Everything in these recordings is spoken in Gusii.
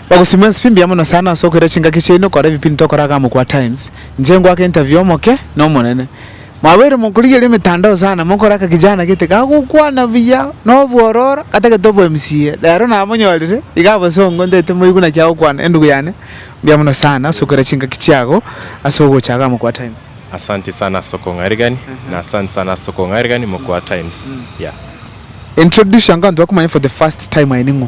Bagosima ense pi mbuya mono sana ase okoira chingaki chiaino okora ebipindi tokora aka amo kwa Times. Inche ngoake interview omoke na omonene. Mwabeire mokorigeria emetandao sana mokore aka kijana gete kagokwana buya na obwororo atagete obo MCA. Rero namonyorire iga abasongo ntaete moigwe naki agokwana endugu yane mbuya mono sana ase okoira chingaki chiago ase ogocha aka amo kwa Times. Asanti sana ase okong'aeregani na asanti sana ase okong'aeregani mokwa Times. Yeah. Introduce ango abanto bakomanye for the first time aye ning'o?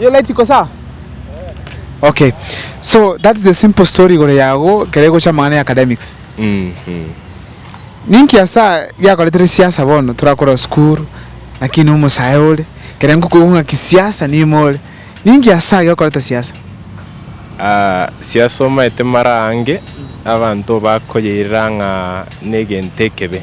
You're late iko saa? Okay. So that is the simple story igoro yago ekero egocha amang'ana ya academics. Ninki asa giakoretire siasa bono torakorwa sukuru naki na omosae ore ekero ngokoigwa ng'a kisiasa niime ore. Ninki asa giokoreta siasa? Ah, siasa omaete mara ange abanto bakoyeirera ng'a na egento ekebe.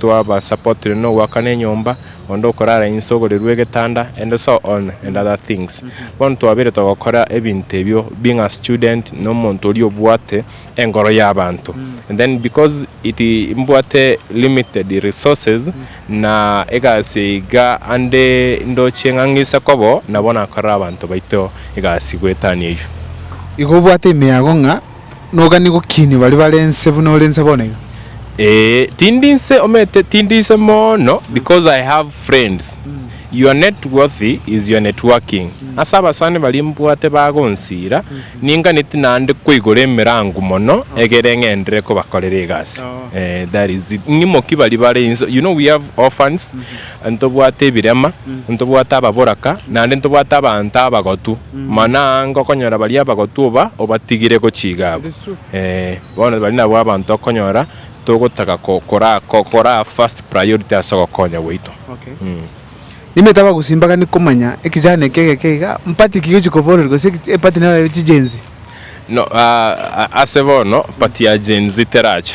twabasapotire nogoakana enyomba, onde okorara inse ogorirwe egetanda and so on and other things. Bono twabeire togokora ebinto ebio being a student na omonto oria obwate engoro y'abanto and then because it mbwate limited resources na egasi eye iga ande ndoche ng'a ng'ise koba oo nabo nakorere abanto baito egasi goetania eyio. Igo obwate emeago ng'a Nogani gokinia baria bare inse buna ore inse bono iga? Ee, tindi inse, omanyete, tindi inse mono because I have friends. Your net worth is your networking. Ase abasani baria mbwate bagonsira, ninganeti naende koigora emerango mono egere ng'enderere kobakorera egasi. Ee, that is it. Ng'imoki baria bare inse, you know we have orphans, ntobwate ebirema, ntobwate ababoraka, naende ntobwate abanto abagotu, mana aa ngokonyora baria abagotu oba obatigire gochiga abo. Ee, bono baria nabwo abanto okonyora togotaka ko- kora ko- koraa first priority ase ogokonya gwaito. Mh. Nimanyete abagosimba gani komanya ekejana eke egeke iga, mpati ki gochia koborerwa gose eki- epati nero chijenzi. No, ah, ase bono party ya Gen Z terache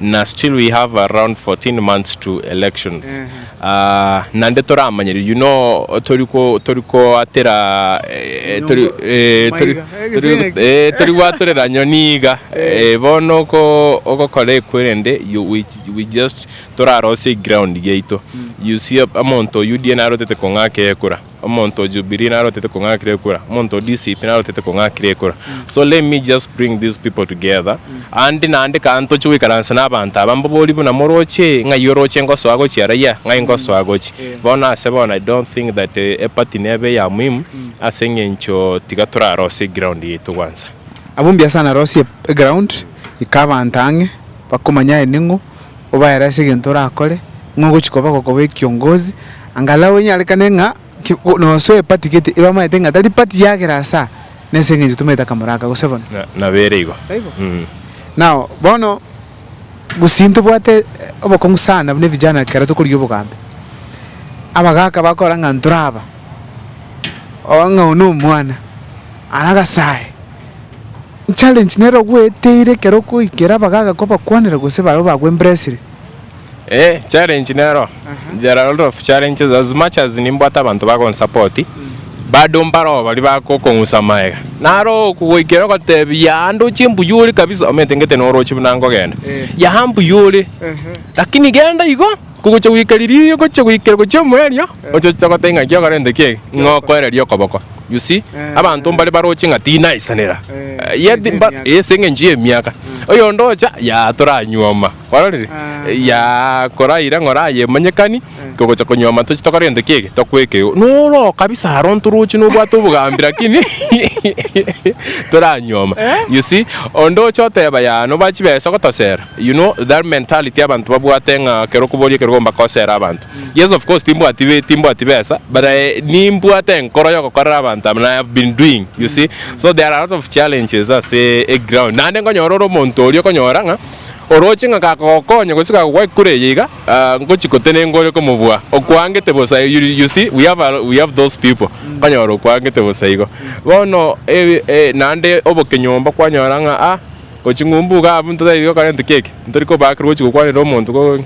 na still we have around 14 months to elections Ah, nande toramanyeri you know tori ko tori koatera eh, tori Nyombo. eh, tori Maiga. Eh, tori gese eki. eh, tori gwatorera nyoni iga Eh, bono oko ogokora ekwerende you we, we just torarosie eground giaito you see omonto oyio die narotete kong'aka ekura Omonto o Jubilee narotete kong'akira ekura, omonto o DCP narotete kong'akira ekura. So let me just bring these people together and naende ekero ntoche goikaransa na abanto aba mbabori buna moroche ng'ai oroche ngosoa gochi araiya, ng'ai ngosoa gochi. Bono ase bono I don't think that eparty nebe eya muhimu ase eng'encho tiga torarose eground yaito kwanza. Abwo mbiasara narosie eground ika abanto ang'e bakomanya aye ning'o. obaere ase egento orakore, ng'a ogochia koba gokoba ekiongozi, angalau enyarekane ng'a ki nosoe epati gete ebamanyete ng'a tari pati ya kera asa, nase eng'encho tomaete akamoro aka, gose bono. Na, nabo ere igo. Taibo? Mm. Nao bono, gusii ntobwate obokong'u sana buna evijana ekero tokorigia obogambi. Abagaka bakora ng'a ntoraba, oo ng'a oyo nomwana, ara agasae. challenge nere ogweteire ekero okoikera abagaga kobakwanera gose barabwo bagwo embrace ere. Eh challenge nero there are a lot of challenges as much as nimbwate abanto bagonsapoti bado mbaroo baria bagokong'usa amaega naro okogoikera ogotebia yaa ande ochie mbuya ore kabisa omentengete noroche buna nkogenda yaa mbuya ore lakini genda igo. Kogochia goika riria ogochia goikera gochia omoerio, oche oche goteba ng'a ekio okorente ki ege, ng'a okoereria okoboko. You see? Abanto mbare baroche ng'a tinaisanera. Yet mba ase eng'encho y'emiaka. Oyonde ocha, yaah toranyuoma. Kwarorire? Yaah koraira ng'a orayemanyekani, togocha konyuoma toche tokorente ki ege, tokoeka eoo. Noroo kabisa aro ntoroche nobwate obogambi lakini toranyuoma. You see? Onde oche oteba yaah noba chibesa ogotosera, You know that mentality abantu babwate ng'a kero okoboria ekero ogomba kosera abanto. Yes of course timbwati timbwati besa but I nimbwate enkoro ya ogokorera abanto and I have been doing you see so there are a lot of challenges ase eground naende nkonyora ore omonto oria okonyora ng'a oroche ng'a kagokonya gose kagokwa kure eye iga ngochi kotenenka ore komobua okwaangete bosa you see we have a we have those people okonyora okwaangete bosa igo bono naende oboke nyomba kwanyora ng'a ah. Gochia ng'umbu iga abwo ntotagete gokora egento keke, ntori kobaakerwa gochia gokwanera omonto ko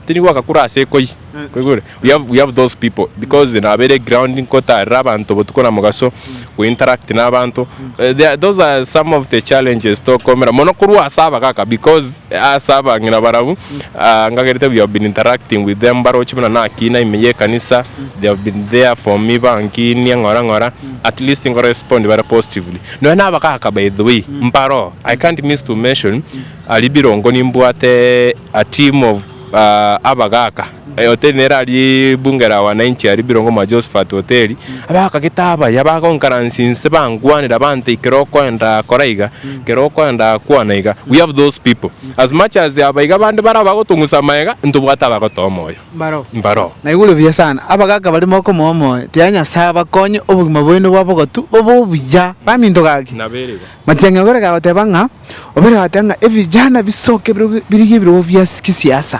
tindi gwagakura ase ekoi, oigure? We have, we have those people because nabeire ground nkotarera abanto botuko na mogaso, go interact na abanto, eh, they are, those are some of the challenges tokomera mono korwa ase abagaka because ase abang'ina barabwo, ah, ngakerete we have been interacting with them baroche buna nakina ime ya ekanisa, they have been there for me bankiinia ng'ora ng'ora, at least nko respond bare positively. Nonya nabagaaka by the way mbaro I can't miss to mention aria birongo nimbwate a team of abagaaka hoteli nere aria bunge la wananchi aria birongo mwa Josphat hoteli abagaaka gete abaya bagoencourance inse bangwanera banta ekero okoenda kora iga ekero okoenda kwana iga we have those people as much as abaiga bande baria bagotong'usa amaega ntobwate abagotoa omoyo. mbaro. Na igure buya sana, abagaaka baria mokomoa omoyo, tiga Nyasae abakonye obogima bwaino bwa bogatu bobe obuya. Baminto gaki, Matiang'i ogere gagoteba ng'a obere goatia ng'a ebijana bisoke birigie ebirogo bia gisiasa,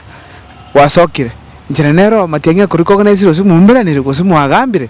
gwasokire. Inchera nero Matiang'i akorikogena esiro gose mwaumeranire gose mwagambire.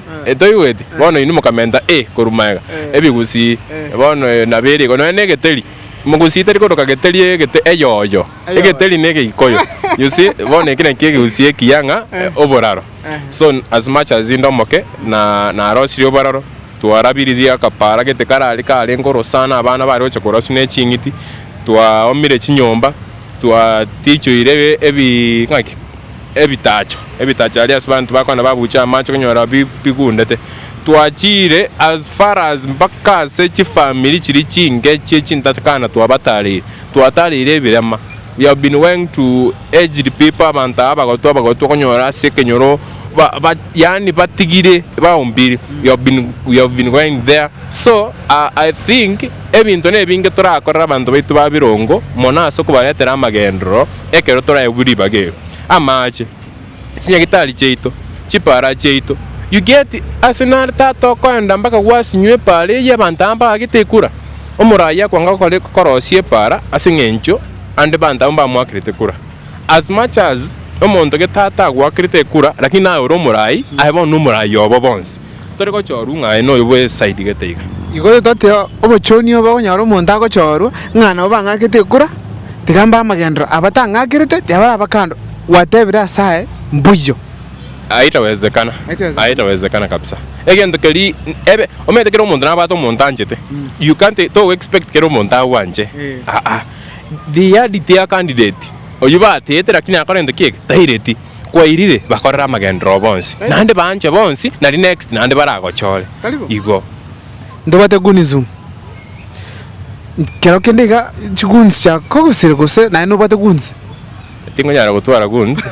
Etoigweti, bono inwe mokamenta e korwa magega, ebigusii, bono eyo nabo ere iko, nonya negeteri, mogusii tari koroka geteri egete eyoyo, egeteri ne egeikoyo, you see, bono eki nakio egegusii ekiya ng'a oboraro, so as much as inde omoke na narosirie oboraro, twarabiririe akapara gete karaaria karenge oro sana, abana bare gocha koraswa ne ching'iti, twaomire chinyomba, twatichoire ebi ng'aki. ebitacho, ebitacho aria ase banto bakogenda babuche amache konyora bi bigundete, twachiire as far as mpaka ase chifamiri chiria chinke chie chintatikana twabatareire, twatareire ebirema, we have been weng to aged people abanto aba abagotu abagotu okonyora ase ekenyoro ba ba yaani batigire baumbiiri, we have been we have been going there, so I I think ebinto na ebinge torakorere abanto baito ba birongo mono ase okobaretera amagenderero. ekero toraegwe ribaga ero, amaache, chinyagitari chiaito, chipaara chiaito, you get, ase nare tata okoenda mpaka gwasinywa epaara eyio abanto aba mbagagete ekura, omoraai akwanga gokora korosia epaara ase eng'encho ande abanto abwo mbamoakerete kura, as much as omonto gete tata agoakerete ekura lakini naye ore omoraai, aye bono nomoraai obo bonsi. Tore gochorwa ng'a aye noyo bw'esaidi gete iga. Igo totote obochoni obo okonyora omonto agochorwa ng'a nabo bang'akete ekura, tiga mbe amagenderero aba tang'akerete, tiabaraba kando, gwatebire ase aye, Mbuya. Aitawezekana, aitawezekana kabisa. Egento keri ebe omanyete kera omonto nabwate omonto anchete. You can't to expect kera omonto agwanche aa. They had their candidate. Oyio batete lakini akorente kiege? Taireti. kwairire bakorere amagenderero oo bonsi, naende baanche bonsi, nari next naende baragochore igo. Ntobwate goons um kero kende iga chi goons chia kogosiri gose naye nobwate goons? Tingonyara gotwara goons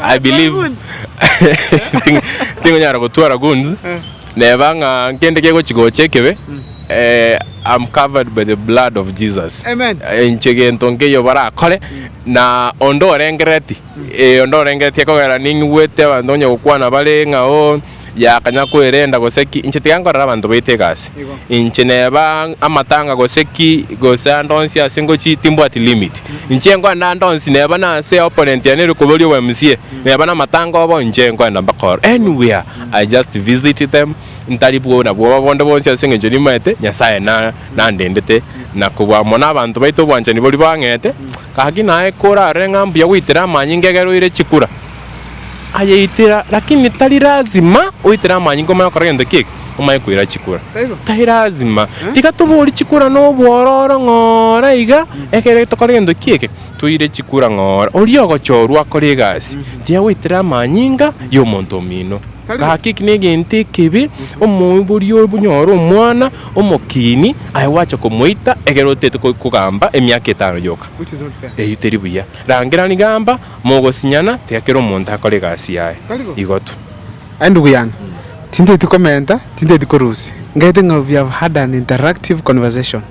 I believe tingonyara gotwara goons neba ng'a nkende kegochi gocha ekebe I'm covered by the blood of Jesus. Amen. Inche gento nkeiyo barakore. Na onde orengereti, ee, onde orengereti, ekogera ning'igwete abanto onye gokwana bare ng'a oo, ya akanya kwerenda, gose ki, inche tiga nkorera abanto baito egasi. Inche neba amatanga gose ki, gose ande onsi ase ngochii timbwati limit. Inche nkoenda ande onsi neba nase opponent yane ere koboria obo MCA, neba namatanga obo, inche nkoenda mbakor anywhere, I just visit them, ntari bwo nabwo obonda bwonsi ase engencho nimaete Nyasae na nandendete na kobua amo nabanto baito obwanchani boria bang'ete. Gaki naye korarore ng'a mbuya goitera amanyinga egere oire chikura, ayeitera lakini tari lazima oitere amanyinga omanye gokora gento kiege omanye koira chikura. Tari lazima. Tiga toborie chikura na obwororo ng'ora iga egere tokore gento kiege toire chikura ng'ora. Oria ogochorwa akore egasi tiga goitera amanyinga ya omonto omino. Gaki negento ekebe, omoibori oyo buna ore omwana omokiini, aye gwacha komoita egere otete kogamba emiaka etano yoka. Eyio teri buya. Rangera rigamba, mogosinyana, tiga kera omonto akore egasi yaye. Igo tu. Aye ndugu yange, tinteti komenta, tinteti korusia, ngete ng'a we have had an interactive conversation.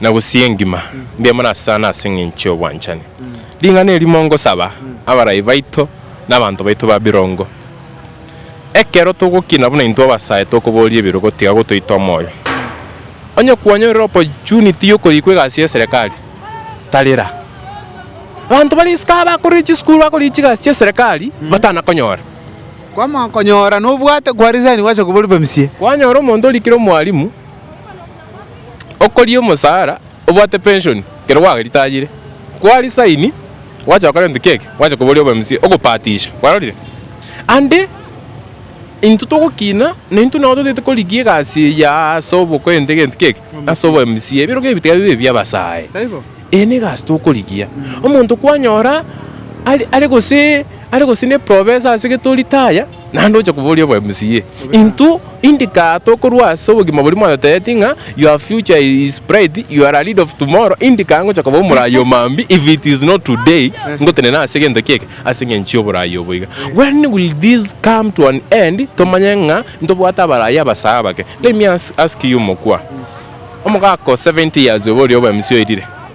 na gusii engima ngemonasesane ase engencho y'obwanchani. Ring'ana eri mongosaba abarai baito na abanto baito ba birongo. Ekero togokina buna intwe abasae tokoboria ebirogo tiga gotoita omoyo. Onye kwanyorire opportunity yokorikwa egasi y'eserekari, tarera. Abanto bare isiko aba bakorire chisukuru bakorire chigasi chi'eserekari batanakonyora. Kwamanya konyora nobwate kwa resign gwacha koba oripe msie. Kwanyora omonto orikire omwalimu. okoria omosara obwate pension ekero gwa retire kwa resign gwacha gokora egento kiege gwacha koboria obe mca ogopatisha kwarorire ande intwe togokina na intwe nabo totagete korigia egasi eye ya ase obokwente egento kiege ase obo mca ebero kegio tiga bibe ebi abasae eye ne egasi tokorigia omonto kwanyora are gose ne professor ase gete o retire. Naende oche koboria obo MCA intwo indika tokorwa ase obogima boria mwatotebetie ng'a your future is bright, you are a leader of tomorrow, indika ngocha koba omorayi o maambia if it is not today ngotenena ase egento keke ase eng'encho y'oborayi obo iga. When will this come to an end tomanye ng'a ntobwate abarayi abasaga abake? Let me ask you mokwa, omogaka o 70 years obo oria obo MCA oirire,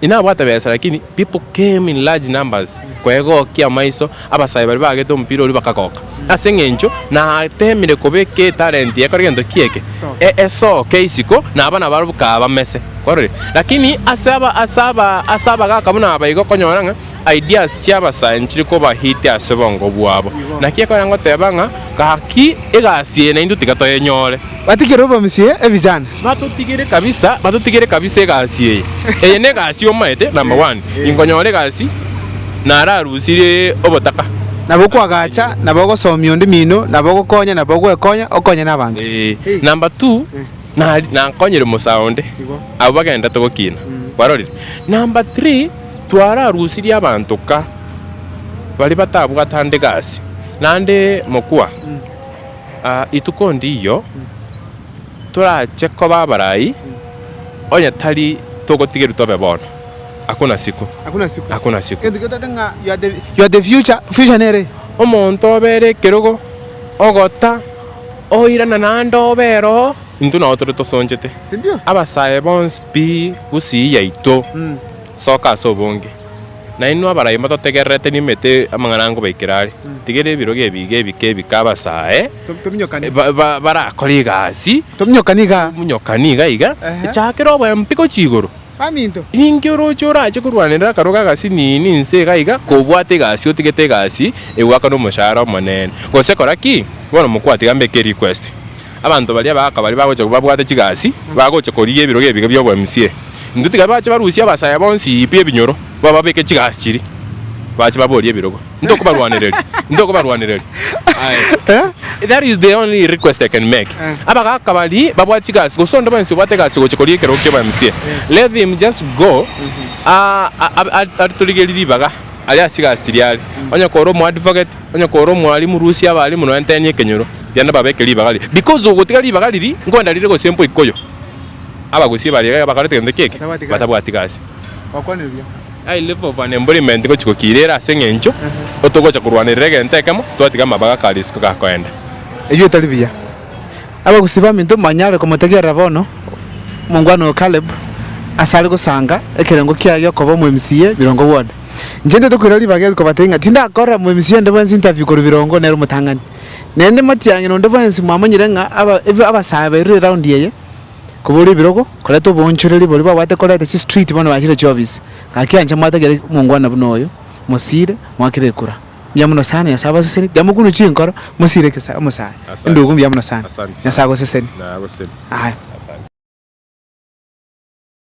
inabwate besa lakini people came in large numbers kwegokia amaiso abasayi baria bagete omopira oria bakagoka ase eng'encho natemire kobeka etalent yaye kore gento ki eke esoke isiko na abana barabwo kabamese kwarorire lakini ase aba ase aba ase abagaka buna aba igo okonyora ng'a ideas chia abasayi nchire koba hit ase obongo bwabo naki ekonyora goteba ng'a gaki egasi eye naintwe tiga toyenyore. Batigere obomsie ebijana. Batotigere kabisa batotigere kabisa egasi eye eye negasi omaete number one inkonyora egasi nararusirie obotaka. Nabo kwagacha nabo ogosomia onde mino nabo ogokonya nabo ogwekonya okonye nabanto. Eeh number two nari nakonyire musae onde abwo bagendete gokina kwarorire number three twararusirie abanto ka baria batabwatande gasi nande mokwa. Rituko ndiiyo torache koba abarai, onye tari togotigerwa tobe bono. Hakuna siku. Hakuna siku. Hakuna siku. Egento kegotoka ng'a you are the- you are the future, future nere eye. Omonto obe ere ekerogo, ogota, oirana naende obe ere oo, intwe nabo tore tosonchete. Sindio? Abasae bonsi pi gusii yaito, soka ase obonge. Na inwe abarai motategererete nimete amang'ana ankobaikera are, tigera ebirogo ebiiga ebike ebike abasae barakore egasi, tominyokani iga iga, echaakera obwempi gochia igoro. Ninki oroche orache korwanera akarwa k'agasinini inse iga iga, kobwate egasi otigete egasi egwaka nomoshahara omonene? Gose kora ki bono mokwatiga mbeke erequest. Abanto baria baaka baria bagocha babwate chigasi, bagocha korigia ebirogo ebiga bi'oboMCA. Intwe tiga bache barusie abasaya bonsi pi ebinyoro, bababeke chigasi chiria, bache baborie ebirogo. Intokobarwanereria, intokobarwanereria. Aye. That is the only request I can make. Abagaaka baria babwate chigasi, gose onde bwensi obwate egasi gocha korigia ekerogo ki'oboMCA, let him just go a- a- a- atorigerie ribaga aria ase chigasi chiria are. Onye kore omoadvocate, Onye kore omwalimu, rusia abalimu nonya tenya ekenyoro, genda babeke ribaga riria, because ogotiga ribaga riria nkwenda rire gose mpo ikoyo. Abagusia baria iga bakorete gento keke, batabwati gasi. High level of unemployment ngochi gokiirera ase eng'encho otogocha korwanerera egento ekemo, twatiga amabaga ka risiko gakoenda. Ebio tari biya. Abagusia baminto mbanyare komotegerera bono omongwana oyo Caleb asare gosanga ekerengo kiaye gi'okoba omo MCA birongo bwode. Inche ntaete koira ribaga erio kobatebia ng'a tindakorera moemisi onde bwensi interview korwa birongo nere omotang'ani. Naende motiang'ina onde bwensi mwamanyire ng'a aba ebe abasae bairure eround eye, koboria ebirogo, koreta oboonchoreri boria babwate koreta chistreet bono bachire chiofisi. Gaki anche mwate kere omongwana buna oyo, mosiire, mwakire ekura. Mbuya mono sana, Nyasae abasesenie. Tiamokunwa chinkoro, mosiire kesa omosae. Endugu mbuya mono sana. Nyasae agosesenie. Aye.